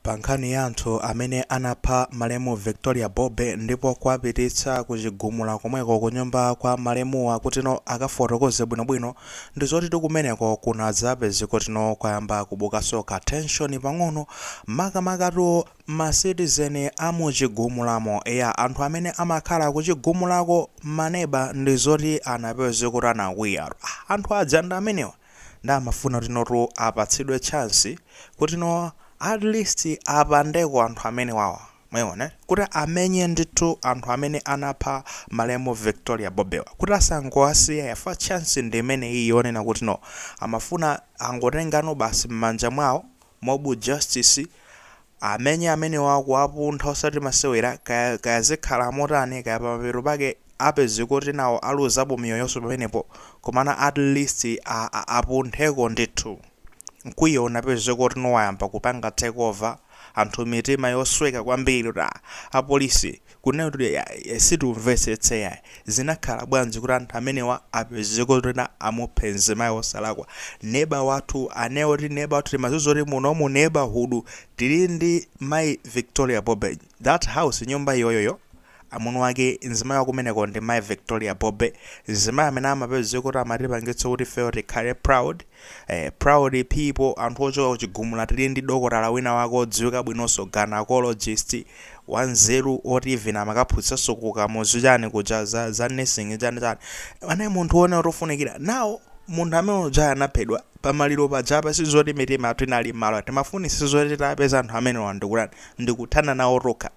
Pa nkhani ya anthu amene anapha malemu Victoria Bobe ndipo kuwapititsa ku chigumula komweko ku nyumba kwa malemuwa kutino akafotokoze bwino bwino ndi zotitu kumeneko kunadzapezeka kutino kwayamba kubukaso ka tension pang'ono makamakatu ma citizen a mu chigumulamo eya anthu amene amakhala ku chigumulako ma neba ndi zoti anapezeka kuti anakwiya anthu aja ndi amenewa. nde amafuna kutinotu apatsidwe chance kutino atleast apandeko anthu amenewawa mwayiona eti kuti amenye ndithu anthu amene anapha malemu Victoria Bobewa kuti asangowasiya chifukwa chance ndi imeneyi yonena kutino amafuna angotengano basi mmanja mwawo mob justice amenye amenewa kuwapuntha osati masewera kaya, kaya zikhala motani kaya pamapeto pake apezeke kuti nawo aluzapo miyoyoso pamenepo komano at least a, a, apuntheko ndithu mkwiyo unapezeka kuti no wayamba kupanga take over anthu mitima yosweka kwambiri kuti ah, apolisi kunena kuti yayi situmvetsetsa yayi zinakhala bwanji kuti anthu amenewa apezeke kuti amuphe mzimayi wosalakwa neba wathu amene oti neba wathu timadziwa kuti muno mu neighborhood tili ndi mayi victoria bobe that house nyumba iyoyoyo amuna wake mzimayi wakumeneko ndi mayi victoria bobe mzimayi amene amapezeka kuti amatipangitsa kuti ifeyo tikhale proud Eh, proud people anthu ochoka ku chigumula tili ndi dokotala wina wake odziwika bwinonso gynecologist wanzeru oti even amakaphunzitsanso ku kamuzu chani kuja za, za nursing chani chani anali munthu wonena kuti ofunikira nawo munthu amene uja anaphedwa pamaliro paja apa sizoti mitima yathu inali mmalo timafunitsitsa zoti tiapeze anthu amenewa ndikutani ndikuthana nawo tokha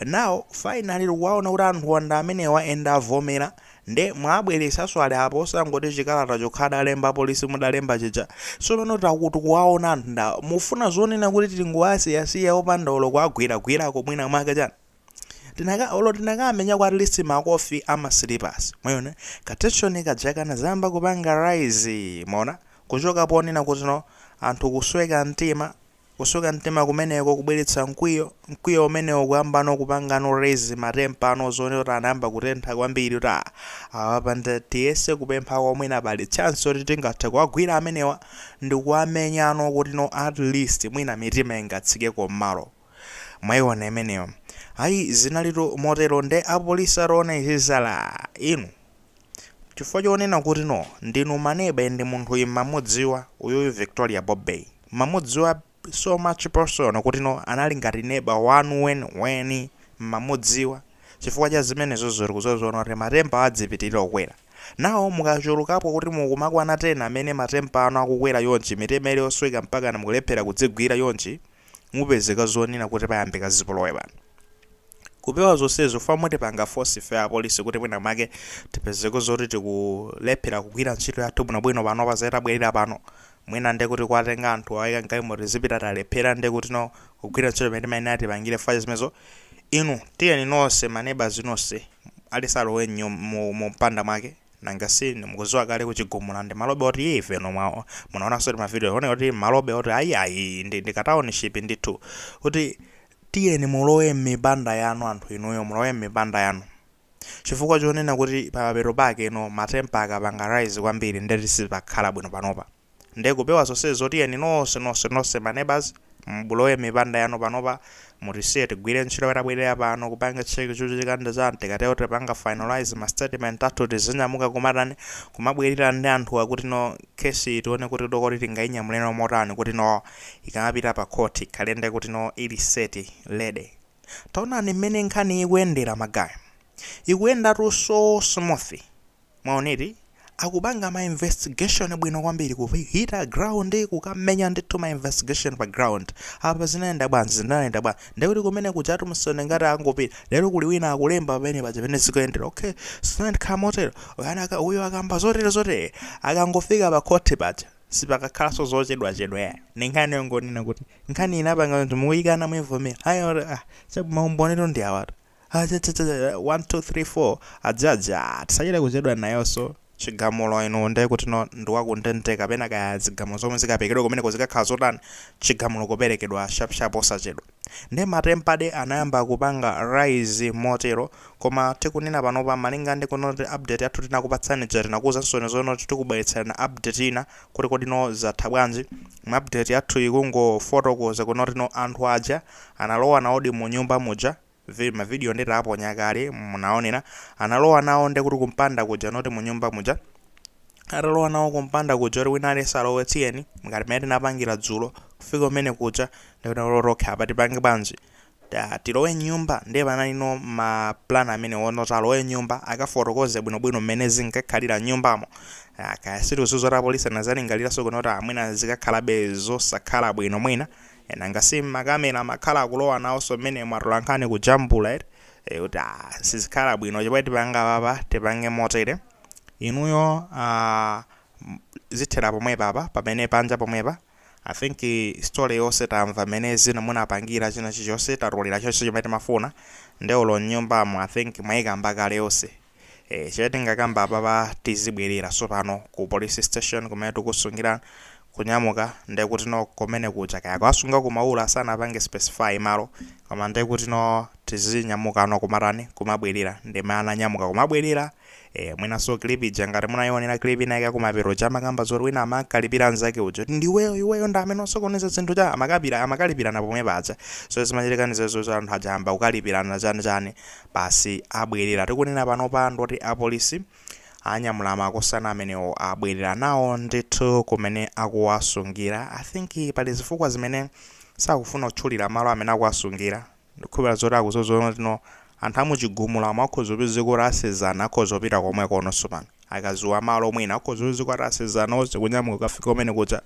now finally tikuwaona kuti anthuwa ndi amenewa and avomera nde mwaabweresaso ali apa osangoti chikalata chokha adalemba apolisi mudalemba chija sopano taku tikuwaona anthu ndi awa mufuna zonena kuti tingoasiyasiya opanda olo kuagwiragwirako mwina mwake chani tinaka olo tinakaamenyako at least makofi amasilapusi mwayona katenshoni kaja kanazayamba kupanga rise mwaona kuchoka ponena kuti no anthu kusweka mtima Kusweka mtima kumeneko kubweretsa mkwiyo, mkwiyo umenewo kuyambano kupangano rise ma temper ano uzione kuti anayamba kutentha kwambiri kuti ah, awa apa nde tiyese kupemphako mwina pali chance yoti tingathe kuwagwira amenewa ndikuwamenyano kutino at least mwina mitima ingatsikeko mmalo mwaiona imeneyo ayi zinalitu motero nde apolisi ataona izi zala inu Chifukwa chonena kuti no ndinu maneba and munthuyi mmamudziwa uyuyu Victoria Bobe mmamudziwa so much personal kuti no anali ngati neba wanu weniweni mmamudziwa chifukwa cha zimenezozo tikuziona kuti ma temper adzipitilira kukwera now mukachulukapo kuti mukumakwana 10 amene ma temper anu akukwera chonchi mitima ili yosweka mpakana mukulephera kudzigwira chonchi mupezeka zonena kuti payambika zipolowe pano. Kupewa zonsezo pamatipanga force ife apolisi kuti mwina make tipezeko zoti tikulephera kugwira ntchito yathu bwinobwino panopa zatabwerera pano mwina nde kuti kuwatenga anthu kuwayika mgalimo tizipita talephera nde kutino kugwira ntchito imene timayenera tipangire fast zimenezo inu tiyeni nonse maneba inu nonse aliyense alowe mnyum- mu mu mpanda mwake nanga si inu mukuziwa kale ku chigumula ndi malobe oti yii ife inu mwa munaonanso ti ma video one kuti malobe oti ayi ayi ndi ndi ka township ndithu kuti tiyeni mulowe mmipanda yanu anthu inuyo mulowe mmipanda yanu chifukwa chonena kuti pamapeto pake ngati no matempa akapanga rise kwambiri ndeti sipakhala bwino panopa Nde kupewa zonsezo tiyeni nonse nonse nonse ma neighbours mulowe mmipanda yanu panopa mutisiye tigwire ntchito yatabwerera pano kupanga check chochitika ndi chani tikatero tipanga finalise ma statement athu tizinyamuka kumatani kumabwerera ndi anthuwa kutino case iyi tione kuti dokoti tingainyamuleno motani kutino ikamapita pa court ikhale nde kutino ili set ready taonani mmene nkhani ikuyendera ma guy ikuyendatu so smooth. Mwaona eti? Akupanga ma investigation bwino kwambiri, kuhita ground, kukamenya ndithu ma investigation pa ground. Apa zinayenda bwanji, zinayenda bwanji. Ndiye kuti kumene kujatu mmesa ngati angopita. Lero kuli wina akulemba pamene paja pamene zikuyendera. Okay, zinayenda motero. Uyana aka- Uyu akamba zotere zotere. Akangofika pa khoti paja. Sipakakhalanso zochedwa chedwa ya. Ndi nkhani yongonena kuti nkhani inapanga kuti mukuyikana mukuyivomera. Ayi oti ah, chabwino maumbonitu ndi awatu. 1234 ajaja tisachita kuchedwa nayoso chigamulo ino nde kutino ndiwakundende kapena kaya zigamulo zomwe zikaperekedwe kumeneko zikakhala zotani chigamulo kuperekedwa shapshap osachedwa nde matempade anayamba kupanga rise motero koma tikunena panopa malinga ndi kunoti update yathu tinakupatsani ija tinakuuzansoni zonoti tikubweretserani update ina kuti kodino zatha bwanji update yathu ikungofotokoza kunotino anthu aja Analowa nawodi munyumba muja, vi, ma video nde taponya kale munaonera, analowa nawo nde kuti kumpanda kuja not munyumba muja, atalowa nawo kumpanda kuja kuti wina aliyense alowe tiyeni ngati mmene tinapangira dzulo kufika kumene kuja nde kuti olo okha apa tipange bwanji ta tilowe nyumba nde panalino ma plan amene wonoti alowe nyumba akafotokoze bwino bwino mmene zinkakhalira nyumbamo Ah, kaya sitikuziwa zoti apolisi anazalingaliraso kunoti aah mwina zikakhalabe zosakhala bwino mwina Ee nanga si makamera amakhala akulowa nawoso mmenemo atolankhani kujambula eti ee kuti aah sizikhala bwino chomwe tipanga apapa tipange motere inuyo aah zithera pomwepa apa pamene panja pomwepa I think story yose tamva mmene zina munapangira china chilichose tatolera chose chomwe timafuna nde olo mnyumbamo I think mwayikamba kale yose ee chimene tingakamba apapa tizibwerera tsopano ku police station kumene akusungira kunyamuka ndekuti no kumene kuja kaya akuwasunga ku maula sanapange specify malo koma ndekuti no tizinyamuka no kumatani kumabwerera ndimene ananyamuka kumabwerera ee mwinanso clip ija ngati munayionera clip ina yake kumapeto kuja amakamba zoti wina amakalipira nzake uja kuti ndiweyo iweyo ndi amene wasokoneza zinthu cha amakapira amakalipirana pomwe paja so zimachitika ndi zezo za anthu aja ayamba kukalipirana chani chani Basi abwerera tikunena panopa ndoti apolisi anyamula makosana amenewo abwerera nawo ndithu kumene akuwasungira. I think pali zifukwa zimene sakufuna kutchulira malo amene akuwasungira. Ndikukhulupirira zoti akuziona kutino anthu amuchigumula akhoza kupezeka kuti asezana akhoza kupita komwekononso pano. akadziwa malo mwina akhoza kupezeka kuti asezana onse kunyamuka kukafika kumene kuja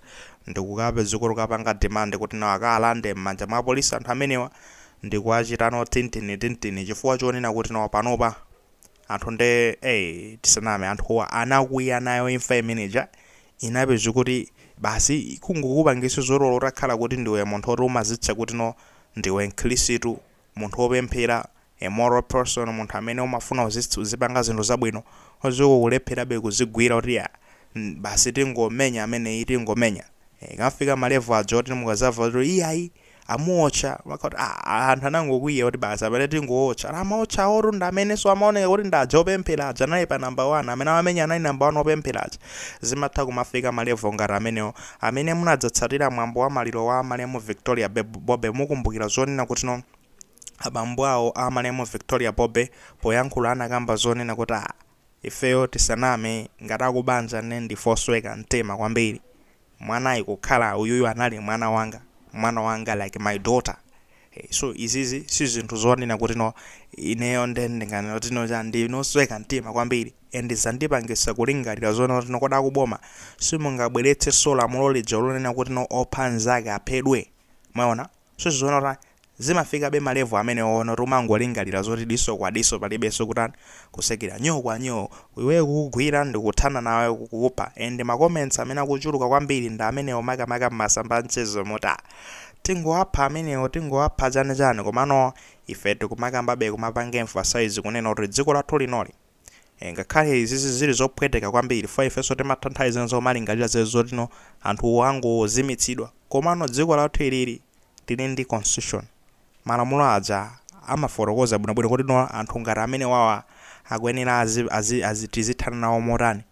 ndikukapezeka kuti akapanga demand kuti nawo akawalande m'manja mwa apolisi anthu amenewa ndikuwachita no tintini tintini chifukwa chonena kuti nawo panopa anthu nde eh tisaname anthuwa anakwiya nayo imfa imeneja inapezeka kuti basi kungokupangisa zoti olo utakhala kuti ndiwe munthu oti umazitcha kuti no ndiwe mkhilisitu munthu wopemphera, a moral person, munthu amene umafuna uzitha uzipanga zinthu zabwino, uzikulepherabe kuzigwira kuti ya basi tingomenya ameneyi tingomenya eh, ikafika malevu aja oti mukadzamva kuti iyayi amuotcha maka kuti ah, ah, anthu anangokwiya kuti basi amene tingootcha Ala amaotcha awowo ndi amenenso amaoneka kuti ndi aja opemphera aja anali pa namba 1 amene amamenya anali namba 1 opemphera aja zimatha kumafika malevu ngati amenewo Amene munatsatira mwambo wa maliro wa malemu Victoria Bobe mukumbukira zonena kuti no abambo awo a malemu Victoria Bobe poyankhula anakamba zonena kuti ah ifeyo tisaname ngati akubanja nde ndife osweka mtima kwambiri mwanayi kukhala uyuyu anali mwana wanga mwana wanga like my daughter Hey, so izizi si zinthu zonena kuti no ineyo nde ndinganena kuti no cha ndine osweka mtima kwambiri and zandipangisa kulingalira zonena kuti no kodi akuboma simungabweretsenso lamulo lija lonena kuti no opha nzake aphedwe mwaona so uziona kuti zimafikabe malevu amenewo onena kuti umangolingalira zoti diso kwa diso palibenso kutani kusekerera nyoo kwa nyoo iweyo kukugwira ndikuthana nawe kukupha and ma comments amene akuchuluka kwambiri ndi amenewo makamaka mmasamba amchezomu kuti ah tingowapha amenewo tingowapha chani chani komano ife tikumakambabe kumapanga emphasize kunena kuti dziko lathu linoli eh, ngakhale izizi zili zophweteka kwambiri for ifenso timatha nthawi zina kumalingalira zezo kutino anthu angozimitsidwa komano dziko lathu ilili Tili ndi constitution. Malamulo aja amafotokoza bwino bwino kuti no anthu ngati amene wawa akuyenera azi azi azi tizithana nawo motani.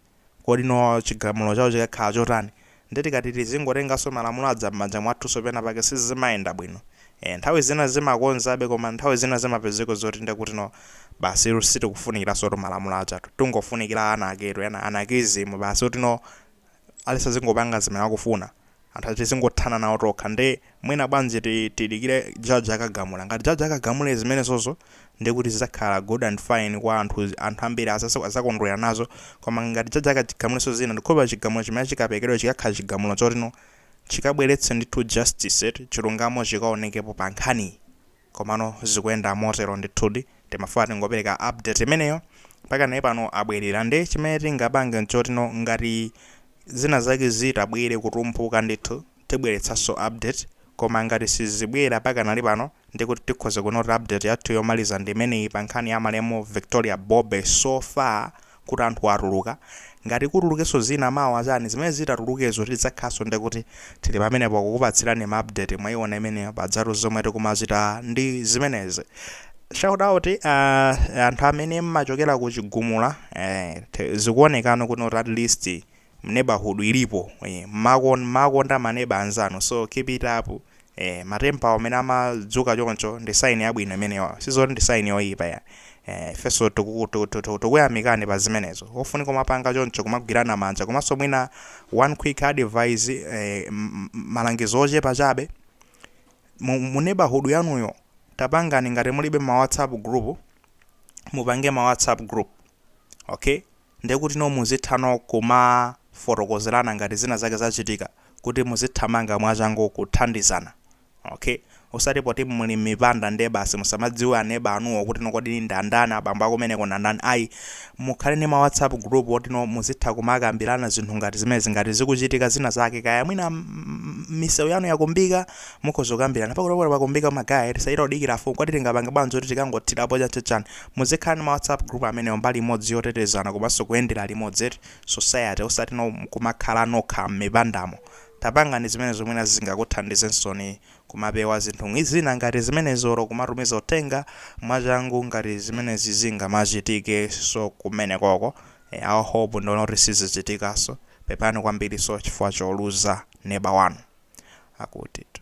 Kodi no chigamulo chawo chikakhala chotani. Nde tikati tizingotenganso malamulo aja mmanja mwathunso pena pake sizimayenda bwino. Eeh nthawi zina zimakonzabe koma nthawi zina zimapezeka zoti nde kuti no basitu sitikufunikiransotu malamulo ajatu. Tungofunikira ana anarchy-tu ena anarchism basi kuti no aliyense azingopanga zimene akufuna. anthu ati tizingothana nawo tokha nde mwina bwanji ti tidikire judge akagamula ngati judge akagamule zimenezozo ndekuti zizakhala good and fine kwa anthu anthu ambiri azasa azakondwera nazo koma ngati judge akachigamuleso zina ndikhulupira chigamulo chimene chikapekedwe chikakhala chigamulo choti no chikabweretse ndithu justice eti chilungamo chikaonekepo pa nkhaniyi Komano zikuyenda motero ndithudi. Timafuna tingopereka update imeneyo. Pakanali pano abwerera. Nde chimene tingapange nchotino ngati zina zake zitabwere kutumphuka ndithu, tibweretsanso update. Koma ngati sizibwera pakanali pano, ndiye kuti tikhoza kunena kuti update yathu yomaliza ndi imeneyi pa nkhani ya malemu Victoria Bobe so far. kuti anthuwa atuluka, ngati kutulukenso zina mawa chani, zimene zitatulukezo tidzakhalanso ndekuti tili pamenepo kukupatsirani ma update mwaiona imeneyo pajatu zomwe tikumachita ndi zimenezi. Shout out uh, anthu amene mmachokera ku Chigumula eh, zikuonekano kuno kuti at least mneighborhood ilipo eh mmakon mmakonda ma neba anzanu so keep it up eh ma temper awo amene amadzuka choncho ndi sign yabwino imeneyo sizoti ndi sign yoyipa ayi eh ifenso tuku- tu- tu- tu- tukuyamikani pa zimenezo ofunika kumapanga choncho kumagwirana manja komanso mwina one quick advice eh, m- m- malangizo ochepa chabe mu, mu neighborhood yanuyo tapangani ngati mulibe ma whatsapp group mupange ma whatsapp group okay Ndekutino muzithano kumafotokozerana ngati zina zake zachitika kuti muzithamanga mwachangu kuthandizana okay osati poti muli mmipanda nde basi musamadziwe neba wanuyo kutino kodi ndandani abambo akumeneko ndandani ayi mukhale ndi ma whatsapp group otino muzitha kumakambirana zinthu ngati zimenezi ngati zikuchitika zina zake kaya mwina misewu yanu yakumbika mukhoza kukambirana pakuti pakuti pakumbika ma guy tisachite kudikira afumu kuti tingapange bwanji zoti tikangothirapo chanichani Muzikhala ndi ma whatsapp group amenewo mbali imodzi yotetezana komanso kuyendera limodzi eti society osati no kumakhala nokha mmipandamo. Tapangani zimenezo mwina zingakuthandizensoni kumapewa zinthu zina ngati zimenezi olo kumatumiza uthenga mwachangu ngati zimenezi zingamachitikeso kumenekoko. I hope ndiona kuti sizichitikaso. Pepani kwambiriso chifukwa choluza neba wanu. Akutitu.